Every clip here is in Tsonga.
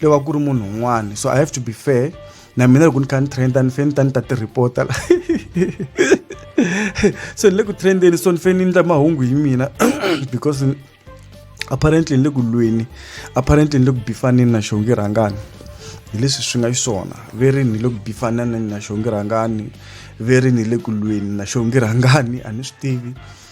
lo va ku ri munhu un'wana so i have to be fair na mina loko ni kha ni trenda ni fane ni ta ni ta ti reporta la so ni le ku trendeni so ni fane ni endla mahungu hi mina because apparently ni le ku lweni apparently ni le ku bifaneni na xongi rhangani hi leswi swi nga xiswona ve ri ni le ku bifaneni na xongi rhangani ve ri ni le ku lweni na xongi rhangani a ni swi tivi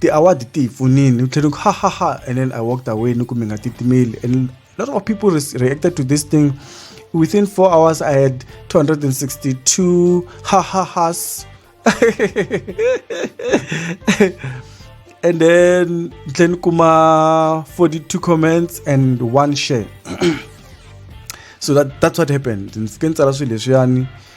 ti-award ti hi pfunile u tlhela ku ha ha ha and then i walked away ni ku mi nga titimeli and lot of people reacted to this thing within four hours i had 262 ha ha has and then tlhela kuma 42 comments and one share so that, that's what happened ndzi fike ni tsala swilo leswiyani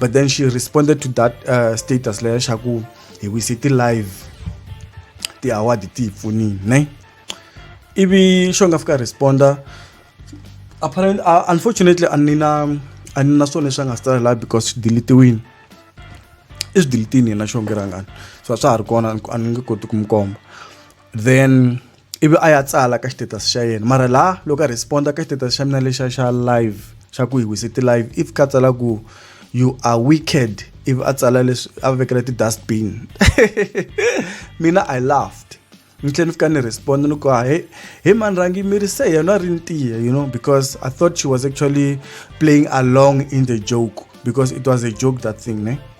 but then she responded to that uh, status leyo xa ku hi wise ti-live ti-award ti hi pfunini ne ivi xo nga fika responda apparently uh, unfortunately a ni na a ni na swona leswi a nga swi tsala laha because swi dilitiwini i swi dilitini yena xo ngi rhangani so a swa ha ri kona a ni nge koti ku mi komba then ivi a ya tsala ka status xa yena mara laha loko a responda ka status xa mina lexa xa live xa ku hi wise ti-live if ka tsala ku you are wicked ivi a tsala leswi a vekela ti-dustbin mina i laughed ni tlhela ni fika ni responda ni ku ha he he mani rhangi mi ri se yena a ri ntiya you know because i thought she was actually playing along in the joke because it was a joke that thing ne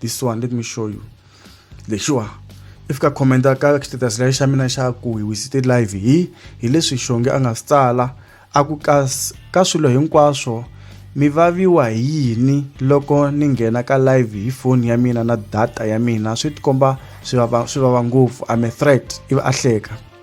this one let me show you lexiwa if ka commenta ka status leyi xa mina xa ku hi wisite live hi hi leswi xonge a nga swi tsala a ku ka ka swilo hinkwaswo mi vaviwa hi yini loko ni nghena ka live hi foni ya mina na data ya mina swi tikomba swi vava swi vava ngopfu I'm a threat ivi a hleka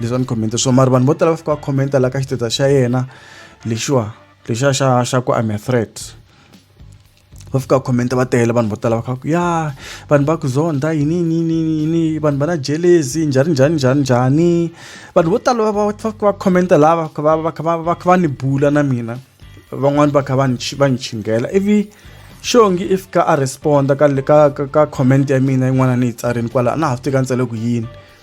leswi a ni comment swo mara vanhu vo tala va fika va commenta la ka xiteta xa yena lexiwa lexiya xa xa ku I'm a threat va fika va comment va tele vanhu vo tala va kha ku ya vanhu va ku zonda yini yini yini yini vanhu va na jelezi njhani njhani njhani njhani vanhu vo tala va va fika va comment lava va va kha va va kha va ni bula na mina van'wani va kha va ni va ni chinghela ivi xongi i fika a responda ka ka ka comment ya mina yin'wana ni yi tsarini kwala a na ha swi tika ni tsale ku yini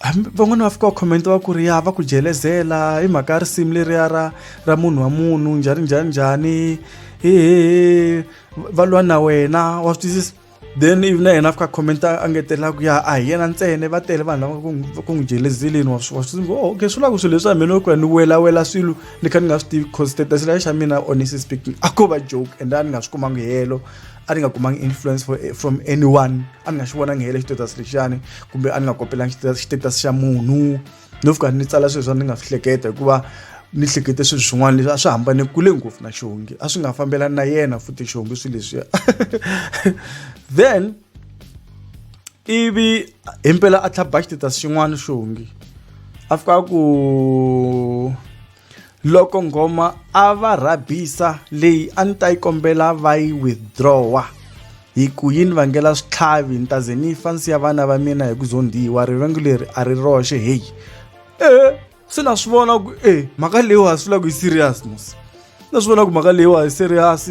hambi van'wana va fika va comment va ku ri ya va ku jelezela hi mhaka ya risimu leriya ra ra munhu wa munhu njhani njhani njhani hehe va lwa na wena wa swi twisisa then ivi na yena a fika comment a ngetelaka ku ya a hi yena ntsene va tele vanhu lava ku n'wi jelezeleni wa swi wa swi ngo oh, okay swi lava ku swilo leswi a mina ku ya ni welawela swilo ni kha ni nga swi tivi cause status leya xa mina honestly speaking a ko va joke and a ni nga swi kumanga helo a ni nga kumanga influence for, eh, from anyone a ni nga xi vonangi hele xitatus lexiyani kumbe a ni nga kopelangi xitatus xa munhu no fika ni tsala swilo swa ni nga swi hleketa hikuva ni hlekete swilo swin'wana leswi a swi hambane kule ngopfu na xihongi a swi nga fambelani na yena futhi xihongi swilo leswiya then ivi himpela a tlhaba xitatus xin'wana xihongi a fika ku loko nghoma a va rhabisa leyi a ni ta yi kombela va yi withdrawa hi ku yi ni vangela switlhavi ni ta ze ni fa nsiya vana va mina hi ku zondhiwa rivengo leri a ri roxe heyi e se na swi vona ku e mhaka leyiwa ha swi la ku yi serious mos na swi vona ku mhaka leyiwa hi serious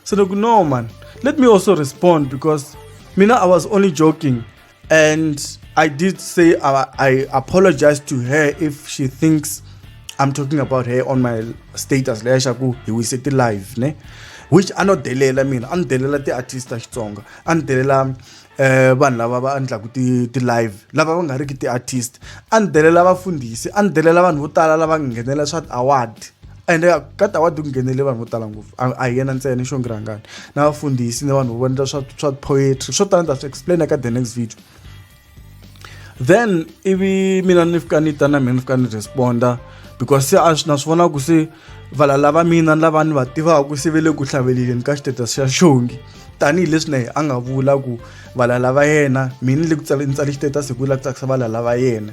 se ni ku no man let me also respond because mina i was only joking And I did say I, I apologize to her if she thinks I'm talking about her on my status leya xa ku hi wise ti live ne which a no delela mina a ni delela ti-artist ta xitsonga a ni delela um vanhu lava va endlaku ti-live lava va nga riki ti-artist a ni delela vafundhisi a ni delela vanhu vo tala lava nghenelela swa ti-award ende ka ta wa tinghenele vanhu vo tala ngopfu a hi yena ntsena xo ngirangani na vafundhisi ni vanhu vo vonela swa swa poetry swo tala ni ta swi explain eka the next video then ivi mina ni fika ni ta na mina ni fika ni responda because se a na swi vona ku se vala lava mina ni lava ni va tivaka se ve le ku hlaveleleni ka xitatus xa xongi tanihileswi na ye a nga vula ku vala lava yena mina ni le ku tsale ni tsale xitatus hi ku la ku tsakisa vala lava yena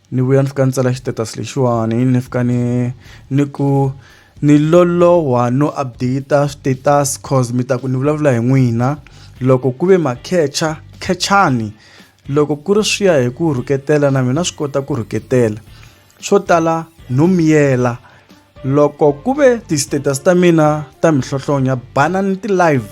Ni vuya ni fika ni tsala xitetasi lexiwani ni fika ni ni ku ni loloha no update switetasi cause mi ta ku ni vulavula hi n'wina loko ku ve makhecha khechani loko ku ri swi ya hi ku rhuketela na mina swi kota ku rhuketela swo tala no miyela loko ku ve ti-status ta mina ta mihlohlonya bana ni ti-live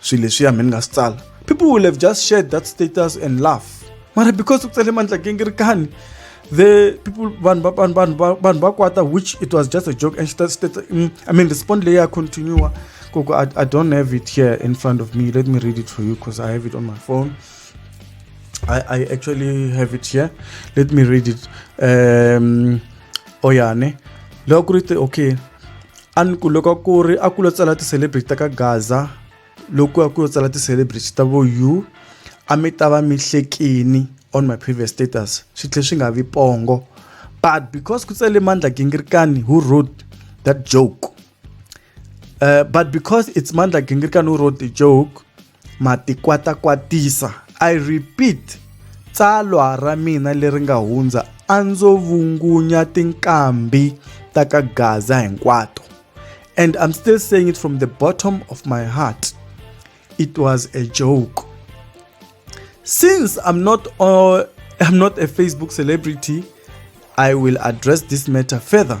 swilo leswiya mi ni nga swi tsala people will have just shared that status and laugh mara because u tsale mandla gingirikani the people vanhu vanhu vanhu vanhu va kwata which it was just a joke and state, state, mm, i mean respond leyi ya continue koko I, i don't have it here in front of me let me read it for you because i have it on my phone I, I actually have it here let me read it um oyane oh, loko ku ri okay a ni ku loko ku ri a ku lo tsala ti-celebrity ta ka gaza loko a ku lo tsala ti-celebrity ta vo u a mi ta va mi hlekini on my previous status swi tlhe swi nga vi pongo but because ku tsale mandla gingirikani who wrote that joke uh, but because it's mandla gingirikani who wrote the joke Matikwatakwatisa. I repeat, tsalwa ra mina leri nga hundza a ndzo vungunya tinkambi ta ka Gaza hinkwato. And I'm still saying it from the bottom of my heart. It was a joke. Since I'm not uh, I'm not a Facebook celebrity, I will address this matter further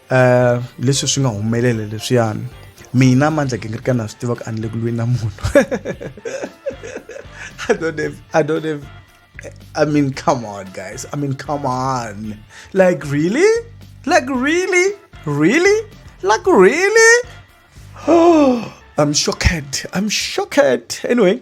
eh, leswi swi nga humelela leswiyani mina mandla gingirika na swi tiva ku a ni le ku lweni na munhu i don't have i don't have i mean come on guys i mean come on like really like really really like really i'm shocked i'm shocked anyway